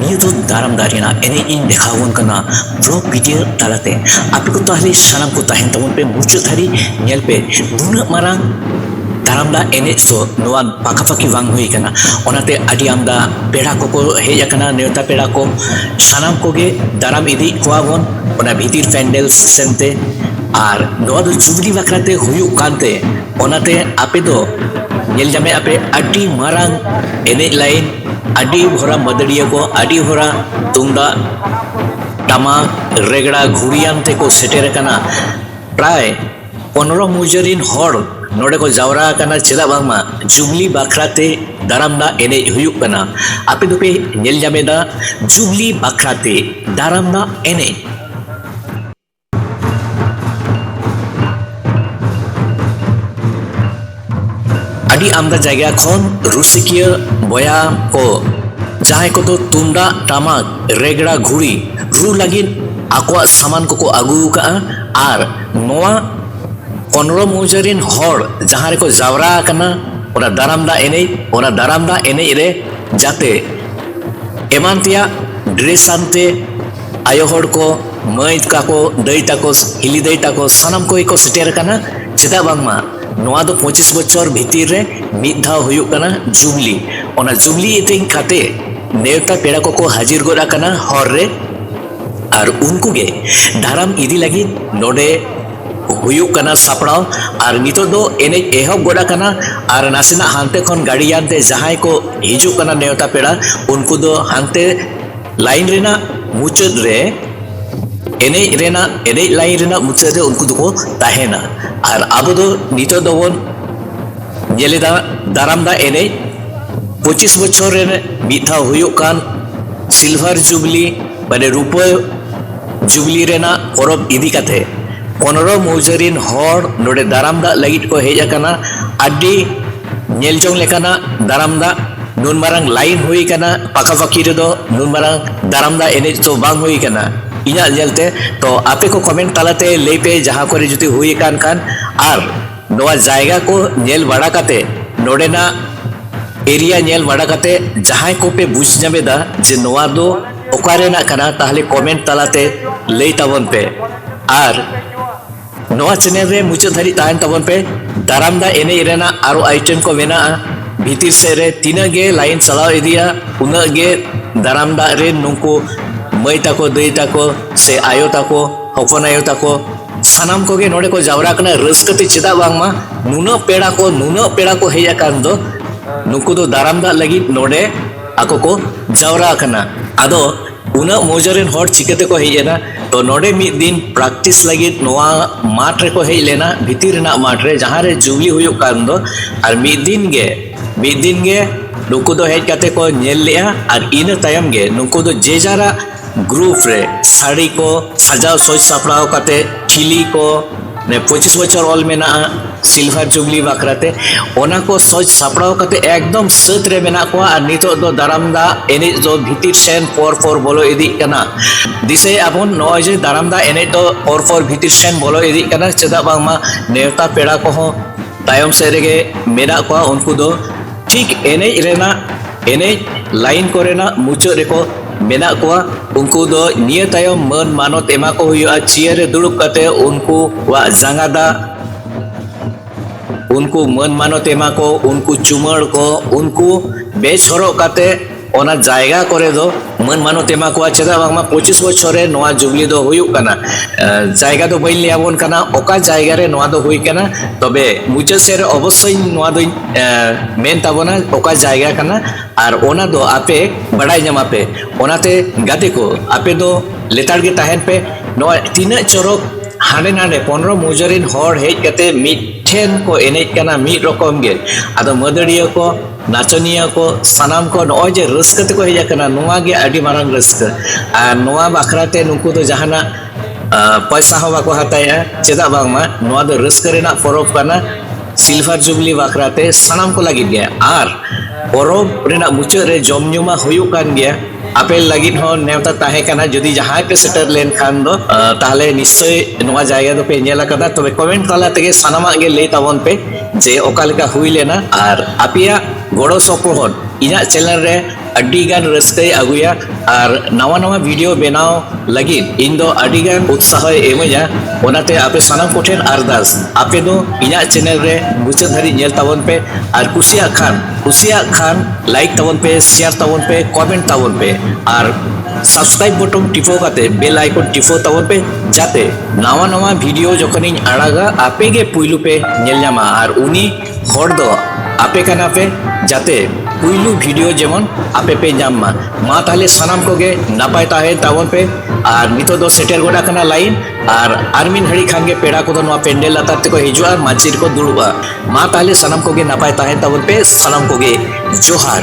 ᱱᱤᱭᱟᱹ ᱫᱚ ᱫᱟᱨᱟᱢ ᱫᱟᱨᱮ ᱨᱮᱱᱟᱜ ᱮᱱᱮᱡ ᱤᱧ ᱫᱮᱠᱷᱟᱣ ᱟᱵᱚᱱ ᱠᱟᱱᱟ ᱵᱞᱚᱜ ᱵᱷᱤᱰᱤᱭᱳ ᱛᱟᱞᱟᱛᱮ ᱟᱯᱮ ᱠᱚ ᱛᱟᱦᱞᱮ ᱥᱟᱱᱟᱢ ᱠᱚ ᱛᱟᱦᱮᱱ ᱛᱟᱵᱚᱱ ᱯᱮ ᱢᱩᱪᱟᱹᱫ ᱫᱷᱟᱹᱨᱤᱡ ᱧᱮᱞ ᱯᱮ ᱱᱩᱱᱟᱹᱜ ᱢᱟᱨᱟᱝ ᱫᱟᱨᱟᱢ ᱫᱟᱜ ᱮᱱᱮᱡ ᱫᱚ ᱱᱚᱣᱟ ᱯᱟᱠᱟᱯᱟᱠᱤ ᱵᱟᱝ ᱦᱩᱭ ᱠᱟᱱᱟ ᱚᱱᱟᱛᱮ ᱟᱹᱰᱤ ᱟᱢᱫᱟ ᱯᱮᱲᱟ ᱠᱚᱠᱚ ᱦᱮᱡ ᱟᱠᱟᱱᱟ ᱱᱮᱣᱛᱟ ᱯᱮᱲᱟ ᱠᱚ ᱥᱟᱱᱟᱢ ᱠᱚᱜᱮ ᱫᱟᱨᱟᱢ ᱤᱫᱤᱭᱮᱫ ᱠᱚᱣᱟ ᱵᱚᱱ ᱚᱱᱟ ᱵᱷᱤᱛᱤᱨ ᱯᱮᱱᱰᱮᱞ ᱥᱮᱱᱛᱮ ᱟᱨ ᱱᱚᱣᱟ ᱫᱚ ᱡᱩᱵᱽᱞᱤ ᱵᱟᱠᱷᱨᱟᱛᱮ ᱦᱩᱭᱩᱜ ᱠᱟᱱᱛᱮ ᱚᱱᱟᱛᱮ ᱟᱯᱮ ᱫᱚ ᱧᱮᱞ ᱧᱟᱢᱮᱫ ᱟᱯᱮ ᱟᱹᱰᱤ ᱢᱟᱨᱟᱝ ᱮᱱᱮᱡ ᱞᱟᱭᱤᱱ ᱟᱹᱰᱤ ᱦᱚᱨᱟ ᱢᱟᱹᱫᱟᱹᱲᱤᱭᱟᱹ ᱠᱚ ᱟᱹᱰᱤ ᱦᱚᱨᱟ ᱛᱩᱢᱫᱟᱜ ᱴᱟᱢᱟᱠ ᱨᱮᱜᱽᱲᱟ ᱜᱷᱩᱲᱤᱭᱟᱱ ᱛᱮᱠᱚ ᱥᱮᱴᱮᱨ ᱟᱠᱟᱱᱟ ᱯᱨᱟᱭ ᱯᱚᱱᱨᱚ ᱢᱩᱡᱟᱹ ᱨᱤᱱ ᱦᱚᱲ ᱱᱚᱰᱮ ᱠᱚ ᱡᱟᱣᱨᱟ ᱟᱠᱟᱱᱟ ᱪᱮᱫᱟᱜ ᱵᱟᱝᱢᱟ ᱡᱩᱵᱽᱞᱤ ᱵᱟᱠᱷᱨᱟ ᱛᱮ ᱫᱟᱨᱟᱢ ᱫᱟᱜ ᱮᱱᱮᱡ ᱦᱩᱭᱩᱜ ᱠᱟᱱᱟ ᱟᱯᱮ ᱫᱚᱯᱮ ᱧᱮᱞ ᱧᱟᱢᱮᱫᱟ ᱡᱩᱵᱽᱞᱤ ᱵᱟᱠᱷᱨᱟ ᱛᱮ ᱫᱟᱨᱟᱢ ᱫᱟᱜ ᱮᱱᱮᱡ ᱟᱹᱰᱤ ᱟᱢᱫᱟ ᱡᱟᱭᱜᱟ ᱠᱷᱚᱱ ᱨᱩᱥᱤᱠᱤᱭᱟᱹ ᱵᱚᱭᱟ ᱠᱚ ᱡᱟᱦᱟᱸᱭ ᱠᱚᱫᱚ ᱛᱩᱢᱫᱟᱜ ᱴᱟᱢᱟᱠ ᱨᱮᱜᱽᱲᱟ ᱜᱷᱩᱲᱤ ᱨᱩ ᱞᱟᱹᱜᱤᱫ ᱟᱠᱚᱣᱟᱜ ᱥᱟᱢᱟᱱ ᱠᱚᱠᱚ ᱟᱹᱜᱩ ᱟᱠᱟᱫᱼᱟ ᱟᱨ ᱱᱚᱣᱟ ᱠᱚᱱᱨᱚ ᱢᱩᱡᱟᱹ ᱨᱤᱱ ᱦᱚᱲ ᱡᱟᱦᱟᱸ ᱨᱮᱠᱚ ᱡᱟᱣᱨᱟ ᱟᱠᱟᱱᱟ ᱚᱱᱟ ᱫᱟᱨᱟᱢ ᱫᱟᱜ ᱮᱱᱮᱡ ᱚᱱᱟ ᱫᱟᱨᱟᱢ ᱫᱟᱜ ᱮᱱᱮᱡ ᱨᱮ ᱡᱟᱛᱮ ᱮᱢᱟᱱ ᱛᱮᱭᱟᱜ ᱰᱨᱮᱥ ᱟᱱᱛᱮ ᱟᱭᱳ ᱦᱚᱲ ᱠᱚ ᱢᱟᱹᱭ ᱛᱟᱠᱚ ᱫᱟᱹᱭ ᱛᱟᱠᱚ ᱦᱤᱞᱤ ᱫᱟᱹᱭ ᱛᱟᱠᱚ ᱥᱟᱱᱟᱢ ᱠᱚᱜᱮ ᱠᱚ ᱥᱮᱴᱮᱨ ᱟᱠᱟᱱᱟ ᱪᱮᱫᱟᱜ ᱵᱟᱝᱢᱟ ᱱᱚᱣᱟ ᱫᱚ ᱯᱚᱸᱪᱤᱥ ᱵᱚᱪᱷᱚᱨ ᱵᱷᱤᱛᱤᱨ ᱨᱮ ᱢᱤᱫ ᱫᱷᱟᱣ ᱦᱩᱭᱩᱜ ᱠᱟᱱᱟ ᱡᱩᱵᱽᱞᱤ ᱚᱱᱟ ᱡᱩᱵᱽᱞᱤ ᱤᱫᱤ ᱠᱟᱛᱮ ᱱᱮᱣᱛᱟ ᱯᱮᱲᱟ ᱠᱚᱠᱚ ᱦᱟᱹᱡᱤᱨ ᱜᱚᱫ ᱟᱠᱟᱱᱟ ᱦᱚᱨ ᱨᱮ ᱟᱨ ᱩᱱᱠᱩ ᱜᱮ ᱫᱟᱨᱟᱢ ᱤᱫᱤ ᱞᱟᱹᱜᱤᱫ ᱱᱚᱰᱮ ᱦᱩᱭᱩᱜ ᱠᱟᱱᱟ ᱥᱟᱯᱲᱟᱣ ᱟᱨ ᱱᱤᱛᱚᱜ ᱫᱚ ᱮᱱᱮᱡ ᱮᱦᱚᱵ ᱜᱚᱫ ᱟᱠᱟᱱᱟ ᱟᱨ ᱱᱟᱥᱮᱱᱟᱜ ᱦᱟᱱᱛᱮ ᱠᱷᱚᱱ ᱜᱟᱹᱰᱤᱭᱟᱱ ᱛᱮ ᱡᱟᱦᱟᱸᱭ ᱠᱚ ᱦᱤᱡᱩᱜ ᱠᱟᱱᱟ ᱱᱮᱣᱛᱟ ᱯᱮᱲᱟ ᱩᱱᱠᱩ ᱫᱚ ᱦᱟᱱᱛᱮ ᱞᱟᱭᱤᱱ ᱨᱮᱱᱟᱜ ᱢᱩᱪᱟᱹᱫ ᱨᱮ ᱮᱱᱮᱡ ᱨᱮᱱᱟᱜ ᱮᱱᱮᱡ ᱞᱟᱭᱤᱱ ᱨᱮᱱᱟᱜ ᱢᱩᱪᱟᱹᱫ ᱨᱮ ᱩᱱᱠᱩ ᱫᱚᱠᱚ ᱛᱟᱦᱮᱱᱟ ᱟᱨ ᱟᱵᱚ ᱫᱚ ᱱᱤᱛᱚᱜ ᱫᱚᱵᱚᱱ ᱧᱮᱞᱮᱫᱟ ᱫᱟᱨᱟᱢᱫᱟ ᱮᱱᱮᱡ ᱯᱚᱸᱪᱤᱥ ᱵᱚᱪᱷᱚᱨ ᱨᱮ ᱢᱤᱫ ᱫᱷᱟᱣ ᱦᱩᱭᱩᱜ ᱠᱟᱱ ᱥᱤᱞᱵᱷᱟᱨ ᱡᱩᱵᱽᱞᱤ ᱢᱟᱱᱮ ᱨᱩᱯᱟᱹ ᱡᱩᱵᱽᱞᱤ ᱨᱮᱱᱟᱜ ᱯᱚᱨᱚᱵᱽ ᱤᱫᱤ ᱠᱟᱛᱮ ᱯᱚᱱᱨᱚ ᱢᱩᱡᱟᱹ ᱨᱤᱱ ᱦᱚᱲ ᱱᱚᱰᱮ ᱫᱟᱨᱟᱢ ᱫᱟᱜ ᱞᱟᱹᱜᱤᱫ ᱠᱚ ᱦᱮᱡ ᱟᱠᱟᱱᱟ ᱟᱹᱰᱤ ᱧᱮᱞ ᱡᱚᱝ ᱞᱮᱠᱟᱱᱟᱜ ᱫᱟᱨᱟᱢ ᱫᱟᱜ ᱱᱩᱱ ᱢᱟᱨᱟᱝ ᱞᱟᱭᱤᱱ ᱦᱩᱭ ᱠᱟᱱᱟ ᱯᱟᱠᱟ ᱯᱟᱠᱤ ᱨᱮᱫᱚ ᱱᱩᱱ ᱢᱟᱨᱟᱝ ᱫᱟᱨᱟᱢ ᱫᱟᱜ ᱮᱱᱮᱡ ᱫᱚ ᱵᱟᱝ ᱦᱩᱭ ᱠᱟᱱᱟ ᱤᱧᱟᱹᱜ ᱧᱮᱞᱛᱮ ᱛᱚ ᱟᱯᱮ ᱠᱚ ᱠᱚᱢᱮᱱᱴ ᱛᱟᱞᱟᱛᱮ ᱞᱟᱹᱭ ᱯᱮ ᱡᱟᱦᱟᱸ ᱠᱚᱨᱮ ᱡᱩᱫᱤ ᱦᱩᱭ ᱠᱟᱱ ᱠᱷᱟᱱ ᱟᱨ ᱱᱚᱣᱟ ᱡᱟᱭᱜᱟ ᱠᱚ ᱧᱮᱞ ᱵᱟᱲᱟ ᱠᱟᱛᱮ ᱱᱚᱰᱮᱱᱟᱜ ᱮᱨᱤᱭᱟ ᱧᱮᱞ ᱵᱟᱲᱟ ᱠᱟᱛᱮ ᱡᱟᱦᱟᱸᱭ ᱠᱚᱯᱮ ᱵᱩᱡᱽ ᱧᱟᱢᱮᱫᱟ ᱡᱮ ᱱᱚᱣᱟ ᱫᱚ ᱚᱠᱟ ᱨᱮᱱᱟᱜ ᱠᱟᱱᱟ ᱛᱟᱦᱚᱞᱮ ᱠᱚᱢᱮᱱᱴ ᱛᱟᱞᱟᱛᱮ ᱞᱟᱹᱭ ᱛᱟᱵᱚᱱ ᱯᱮ ᱟᱨ ᱱᱚᱣᱟ ᱪᱮᱱᱮᱞ ᱨᱮ ᱢᱩᱪᱟᱹᱫ ᱫᱷᱟᱹᱨᱤᱡ ᱛᱟᱦᱮᱱ ᱛᱟᱵᱚᱱ ᱯᱮ ᱫᱟᱨᱟᱢ ᱫᱟ ᱮᱱᱮᱡ ᱨᱮᱱᱟᱜ ᱟᱨᱚ ᱟᱭᱴᱮᱢ ᱠᱚ ᱢᱮᱱᱟᱜᱼᱟ ᱵᱷᱤᱛᱤᱨ ᱥᱮᱫ ᱨᱮ ᱛᱤᱱᱟᱹᱜ ᱜᱮ ᱞᱟᱭᱤᱱ ᱪᱟᱞᱟᱣ ᱤᱫᱤᱜᱼᱟ ᱩᱱᱟᱹᱜ ᱜᱮ ᱫᱟᱨᱟᱢ ᱫᱟᱜ ᱨᱮᱱ ᱱᱩᱠᱩ ᱢᱟᱹᱭ ᱛᱟᱠᱚ ᱫᱟᱹᱭ ᱛᱟᱠᱚ ᱥᱮ ᱟᱭᱳ ᱛᱟᱠᱚ ᱦᱚᱯᱚᱱ ᱟᱭᱳ ᱛᱟᱠᱚ ᱥᱟᱱᱟᱢ ᱠᱚᱜᱮ ᱱᱚᱰᱮ ᱠᱚ ᱡᱟᱣᱨᱟ ᱠᱟᱱᱟ ᱨᱟᱹᱥᱠᱟᱹ ᱛᱮ ᱪᱮᱫᱟᱜ ᱵᱟᱝᱢᱟ ᱱᱩᱱᱟᱹᱜ ᱯᱮᱲᱟ ᱠᱚ ᱱᱩᱱᱟᱹᱜ ᱯᱮᱲᱟ ᱠᱚ ᱦᱮᱡ ᱟᱠᱟᱱ ᱫᱚ ᱱᱩᱠᱩ ᱫᱚ ᱫᱟᱨᱟᱢ ᱫᱟᱜ ᱞᱟᱹᱜᱤᱫ ᱱᱚᱰᱮ ᱟᱠᱚ ᱠᱚ ᱡᱟᱣᱨᱟ ᱟᱠᱟᱱᱟ ᱟᱫᱚ ᱩᱱᱟᱹᱜ ᱢᱚᱡᱟ ᱨᱮᱱ ᱦᱚᱲ ᱪᱤᱠᱟᱹ ᱛᱮᱠᱚ ᱦᱮᱡ ᱮᱱᱟ ᱛᱚ ᱱᱚᱰᱮ ᱢᱤᱫ ᱫᱤᱱ ᱯᱨᱮᱠᱴᱤᱥ ᱞᱟᱹᱜᱤᱫ ᱱᱚᱣᱟ ᱢᱟᱴᱷ ᱨᱮᱠᱚ ᱦᱮᱡ ᱞᱮᱱᱟ ᱵᱷᱤᱛᱤᱨ ᱨᱮᱱᱟᱜ ᱢᱟᱴᱷ ᱨᱮ ᱡᱟᱦᱟᱸ ᱨᱮ ᱡᱩᱵᱽᱞᱤ ᱦᱩᱭᱩᱜ ᱠᱟᱱ ᱫᱚ ᱟᱨ ᱢᱤᱫ ᱫᱤᱱ ᱜᱮ ᱢᱤᱫ ᱫᱤᱱ ᱜᱮ ᱱᱩᱠᱩ ᱫᱚ ᱦᱮᱡ ᱠᱟᱛᱮ ᱠᱚ ᱧᱮᱞ ᱞᱮᱫᱼᱟ ᱟᱨ ᱤᱱᱟᱹ ᱛᱟᱭᱚᱢ ᱜᱮ ᱱᱩᱠᱩ ᱫᱚ ᱡᱮ ᱡᱟᱨᱟᱜ ᱜᱨᱩᱯ ᱨᱮ ᱥᱟᱹᱲᱤ ᱠᱚ ᱥᱟᱡᱟᱣ ᱥᱟᱹᱛ ᱥᱟᱯᱲᱟᱣ ᱠᱟᱛᱮ ᱴᱷᱤᱞᱤ ᱠᱚ ᱯᱚᱸᱪᱤᱥ ᱵᱚᱪᱷᱚᱨ ᱚᱞ ᱢᱮᱱᱟᱜᱼᱟ ᱥᱤᱞᱵᱷᱟᱨ ᱡᱩᱵᱽᱞᱤ ᱵᱟᱠᱷᱨᱟᱛᱮ ᱚᱱᱟ ᱠᱚ ᱥᱚᱡᱽ ᱥᱟᱯᱲᱟᱣ ᱠᱟᱛᱮ ᱮᱠᱫᱚᱢ ᱥᱟᱹᱛ ᱨᱮ ᱢᱮᱱᱟᱜ ᱠᱚᱣᱟ ᱟᱨ ᱱᱤᱛᱚᱜ ᱫᱚ ᱫᱟᱨᱟᱢ ᱫᱟ ᱮᱱᱮᱡ ᱫᱚ ᱵᱷᱤᱛᱤᱨ ᱥᱮᱱ ᱯᱚᱨ ᱯᱚᱨ ᱵᱚᱞᱚ ᱤᱫᱤᱜ ᱠᱟᱱᱟ ᱫᱤᱥᱟᱹᱭ ᱟᱵᱚᱱ ᱱᱚᱜᱼᱚᱭ ᱡᱮ ᱫᱟᱨᱟᱢ ᱫᱟ ᱮᱱᱮᱡ ᱫᱚ ᱯᱚᱨ ᱯᱚᱨ ᱵᱷᱤᱛᱤᱨ ᱥᱮᱱ ᱵᱚᱞᱚ ᱤᱫᱤᱜ ᱠᱟᱱᱟ ᱪᱮᱫᱟᱜ ᱵᱟᱝᱢᱟ ᱱᱮᱣᱛᱟ ᱯᱮᱲᱟ ᱠᱚᱦᱚᱸ ᱛᱟᱭᱚᱢ ᱥᱮᱫ ᱨᱮᱜᱮ ᱢᱮᱱᱟᱜ ᱠᱚᱣᱟ ᱩᱱᱠᱩ ᱫᱚ ᱴᱷᱤᱠ ᱮᱱᱮᱡ ᱨᱮᱱᱟᱜ ᱮᱱᱮᱡ ᱞᱟᱭᱤᱱ ᱠᱚᱨᱮᱱᱟᱜ ᱢᱩᱪᱟᱹᱫ ᱨᱮᱠᱚ ᱢᱮᱱᱟᱜ ᱠᱚᱣᱟ ᱩᱱᱠᱩ ᱫᱚ ᱱᱤᱭᱟᱹ ᱛᱟᱭᱚᱢ ᱢᱟᱹᱱ ᱢᱟᱱᱚᱛ ᱮᱢᱟ ᱠᱚ ᱦᱩᱭᱩᱜᱼᱟ ᱪᱤᱭᱟᱹᱨ ᱨᱮ ᱫᱩᱲᱩᱵ ᱠᱟᱛᱮ ᱩᱱᱠᱩᱣᱟᱜ ᱡᱟᱸᱜᱟ ᱫᱟᱜ ᱩᱱᱠᱩ ᱢᱟᱹᱱ ᱢᱟᱱᱚᱛ ᱮᱢᱟ ᱠᱚ ᱩᱱᱠᱩ ᱪᱩᱢᱟᱹᱲ ᱠᱚ ᱩᱱᱠᱩ ᱵᱮᱥ ᱦᱚᱨᱚᱜ ᱠᱟᱛᱮ ᱚᱱᱟ ᱡᱟᱭᱜᱟ ᱠᱚᱨᱮ ᱫᱚ ᱢᱟᱹᱱ ᱢᱟᱱᱚᱛ ᱮᱢᱟ ᱠᱚᱣᱟ ᱪᱮᱫᱟᱜ ᱵᱟᱝᱢᱟ ᱯᱚᱸᱪᱤᱥ ᱵᱚᱪᱷᱚᱨ ᱨᱮ ᱱᱚᱣᱟ ᱡᱩᱵᱽᱞᱤ ᱫᱚ ᱦᱩᱭᱩᱜ ᱠᱟᱱᱟ ᱡᱟᱭᱜᱟ ᱫᱚ ᱵᱟᱹᱧ ᱞᱟᱹᱭ ᱟᱵᱚᱱ ᱠᱟᱱᱟ ᱚᱠᱟ ᱡᱟᱭᱜᱟ ᱨᱮ ᱱᱚᱣᱟ ᱫᱚ ᱦᱩᱭ ᱠᱟᱱᱟ ᱛᱚᱵᱮ ᱢᱩᱪᱟᱹᱫ ᱥᱮᱫ ᱨᱮ ᱚᱵᱚᱥᱥᱳᱭ ᱱᱚᱣᱟ ᱫᱚᱧ ᱢᱮᱱ ᱛᱟᱵᱚᱱᱟ ᱚᱠᱟ ᱡᱟᱭᱜᱟ ᱠᱟᱱᱟ ᱟᱨ ᱚᱱᱟ ᱫᱚ ᱟᱯᱮ ᱵᱟᱲᱟᱭ ᱧᱟᱢᱟ ᱯᱮ ᱚᱱᱟᱛᱮ ᱜᱟᱛᱮ ᱠᱚ ᱟᱯᱮ ᱫᱚ ᱞᱮᱛᱟᱲ ᱜᱮ ᱛᱟᱦᱮᱱ ᱯᱮ ᱱᱚᱣᱟ ᱛᱤᱱᱟᱹᱜ ᱪᱚᱨᱚᱠ ᱦᱟᱸᱰᱮ ᱱᱟᱸᱰᱮ ᱯᱚᱱᱨᱚ ᱢᱩᱡᱟᱹ ᱨᱮᱱ ᱦᱚᱲ ᱦᱮᱡ ᱠᱟᱛᱮ ᱢᱤᱫ ᱴᱷᱮᱱ ᱠᱚ ᱮᱱᱮᱡ ᱠᱟᱱᱟ ᱢᱤᱫ ᱨᱚᱠᱚᱢ ᱜᱮ ᱟᱫᱚ ᱢᱟᱹᱫᱟᱹᱲᱤᱭᱟᱹ ᱠᱚ ᱱᱟᱪᱚᱱᱤᱭᱟᱹ ᱠᱚ ᱥᱟᱱᱟᱢ ᱠᱚ ᱱᱚᱜᱼᱚᱭ ᱡᱮ ᱨᱟᱹᱥᱠᱟᱹ ᱛᱮᱠᱚ ᱦᱮᱡ ᱟᱠᱟᱱᱟ ᱱᱚᱣᱟ ᱜᱮ ᱟᱹᱰᱤ ᱢᱟᱨᱟᱝ ᱨᱟᱹᱥᱠᱟᱹ ᱟᱨ ᱱᱚᱣᱟ ᱵᱟᱠᱷᱨᱟ ᱛᱮ ᱱᱩᱠᱩ ᱫᱚ ᱡᱟᱦᱟᱱᱟᱜ ᱯᱚᱭᱥᱟ ᱦᱚᱸ ᱵᱟᱠᱚ ᱦᱟᱛᱟᱣᱮᱜᱼᱟ ᱪᱮᱫᱟᱜ ᱵᱟᱝᱢᱟ ᱱᱚᱣᱟ ᱫᱚ ᱨᱟᱹᱥᱠᱟᱹ ᱨᱮᱱᱟᱜ ᱯᱚᱨᱚᱵᱽ ᱠᱟᱱᱟ ᱥᱤᱞᱵᱷᱟᱨ ᱡᱩᱵᱽᱞᱤ ᱵᱟᱠᱷᱨᱟ ᱛᱮ ᱥᱟᱱᱟᱢ ᱠᱚ ᱞᱟᱹᱜᱤᱫ ᱜᱮ ᱟᱨ ᱯᱚᱨᱚᱵᱽ ᱨᱮᱱᱟᱜ ᱢᱩᱪᱟᱹᱫ ᱨᱮ ᱡᱚᱢ ᱧᱩ ᱢᱟ ᱦᱩᱭᱩᱜ ᱠᱟᱱ ᱜᱮᱭᱟ ᱟᱯᱮ ᱞᱟᱹᱜᱤᱫ ᱦᱚᱸ ᱱᱮᱣᱛᱟ ᱛᱟᱦᱮᱸ ᱠᱟᱱᱟ ᱡᱩᱫᱤ ᱡᱟᱦᱟᱸᱭ ᱯᱮ ᱥᱮᱴᱮᱨ ᱞᱮᱱᱠᱷᱟᱱ ᱫᱚ ᱛᱟᱦᱚᱞᱮ ᱱᱤᱥᱪᱚᱭ ᱱᱚᱣᱟ ᱡᱟᱭᱜᱟ ᱫᱚᱯᱮ ᱧᱮᱞ ᱟᱠᱟᱫᱟ ᱛᱚᱵᱮ ᱠᱚᱢᱮᱱᱴ ᱛᱟᱞᱟ ᱛᱮᱜᱮ ᱥᱟᱱᱟᱢᱟᱜ ᱜᱮ ᱞᱟᱹᱭ ᱛᱟᱵᱚᱱ ᱯᱮ ᱡᱮ ᱚᱠᱟ ᱞᱮᱠᱟ ᱦᱩᱭ ᱞᱮᱱᱟ ᱟᱨ ᱟᱯᱮᱭᱟᱜ ᱜᱚᱲᱚ ᱥᱚᱯᱚᱦᱚᱫ ᱤᱧᱟᱹᱜ ᱪᱮᱱᱮᱞ ᱨᱮ ᱟᱹᱰᱤ ᱜᱟᱱ ᱨᱟᱹᱥᱠᱟᱹᱭ ᱟᱹᱜᱩᱭᱟ ᱟᱨ ᱱᱟᱣᱟ ᱱᱟᱣᱟ ᱵᱷᱤᱰᱤᱭᱳ ᱵᱮᱱᱟᱣ ᱞᱟᱹᱜᱤᱫ ᱤᱧ ᱫᱚ ᱟᱹᱰᱤ ᱜᱟᱱ ᱩᱛᱥᱟᱦᱚᱭ ᱮᱢᱟᱹᱧᱟ ᱚᱱᱟᱛᱮ ᱟᱯᱮ ᱥᱟᱱᱟᱢ ᱠᱚᱴᱷᱮᱱ ᱟᱨᱫᱟᱥ ᱟᱯᱮ ᱫᱚ ᱤᱧᱟᱹᱜ ᱪᱮᱱᱮᱞ ᱨᱮ ᱢᱩᱪᱟᱹᱫ ᱫᱷᱟᱹᱨᱤᱡ ᱧᱮᱞ ᱛᱟᱵᱚᱱ ᱯᱮ ᱟᱨ ᱠᱩᱥᱤᱭᱟᱜ ᱠᱷᱟᱱ ᱠᱩᱥᱤᱭᱟᱜ ᱠᱷᱟᱱ ᱞᱟᱭᱤᱠ ᱛᱟᱵᱚᱱ ᱯᱮ ᱥᱮᱭᱟᱨ ᱛᱟᱵᱚᱱ ᱯᱮ ᱠᱚᱢᱮᱱᱴ ᱛᱟᱵᱚᱱ ᱯᱮ ᱟᱨ ᱥᱟᱵᱥᱠᱨᱟᱭᱤᱵ ᱵᱚᱴᱚᱱ ᱴᱤᱯᱟᱹᱣ ᱠᱟᱛᱮ ᱵᱮᱞ ᱟᱭᱠᱚᱱ ᱴᱤᱯᱟᱹᱣ ᱛᱟᱵᱚᱱ ᱯᱮ ᱡᱟᱛᱮ ᱱᱟᱣᱟ ᱱᱟᱣᱟ ᱵᱷᱤᱰᱤᱭᱳ ᱡᱚᱠᱷᱚᱱᱤᱧ ᱟᱲᱟᱜᱟ ᱟᱯᱮ ᱜᱮ ᱯᱩᱭᱞᱩ ᱯᱮ ᱧᱮᱞ ᱧᱟᱢᱟ ᱟᱨ ᱩᱱᱤ ᱦᱚᱲ ᱫᱚ ᱟᱯᱮ ᱠᱟᱱᱟ ᱯᱮ ᱡᱟᱛᱮ ᱯᱩᱭᱞᱩ ᱵᱷᱤᱰᱤᱭᱳ ᱡᱮᱢᱚᱱ ᱟᱯᱮ ᱯᱮ ᱧᱟᱢ ᱢᱟ ᱢᱟ ᱛᱟᱦᱞᱮ ᱥᱟᱱᱟᱢ ᱠᱚᱜᱮ ᱱᱟᱯᱟᱭ ᱛᱟᱦᱮᱸ ᱛᱟᱵᱚᱱ ᱯᱮ ᱟᱨ ᱱᱤᱛᱚᱜ ᱫᱚ ᱥᱮᱴᱮᱨ ᱜᱚᱫ ᱟᱠᱟᱱᱟ ᱞᱟᱭᱤᱱ ᱟᱨ ᱟᱨ ᱢᱤᱫ ᱜᱷᱟᱹᱲᱤ ᱠᱷᱟᱱ ᱜᱮ ᱯᱮᱲᱟ ᱠᱚᱫᱚ ᱱᱚᱣᱟ ᱯᱮᱱᱰᱮᱞ ᱞᱟᱛᱟᱨ ᱛᱮᱠᱚ ᱦᱤᱡᱩᱜᱼᱟ ᱢᱟᱹᱪᱤ ᱨᱮᱠᱚ ᱫᱩᱲᱩᱵᱼᱟ ᱢᱟ ᱛᱟᱦᱞᱮ ᱥᱟᱱᱟᱢ ᱠᱚᱜᱮ ᱱᱟᱯᱟᱭ ᱛᱟᱦᱮᱸ ᱛᱟᱵᱚᱱ ᱯᱮ ᱥᱟᱱᱟᱢ ᱠᱚᱜᱮ ᱡᱚᱦᱟᱨ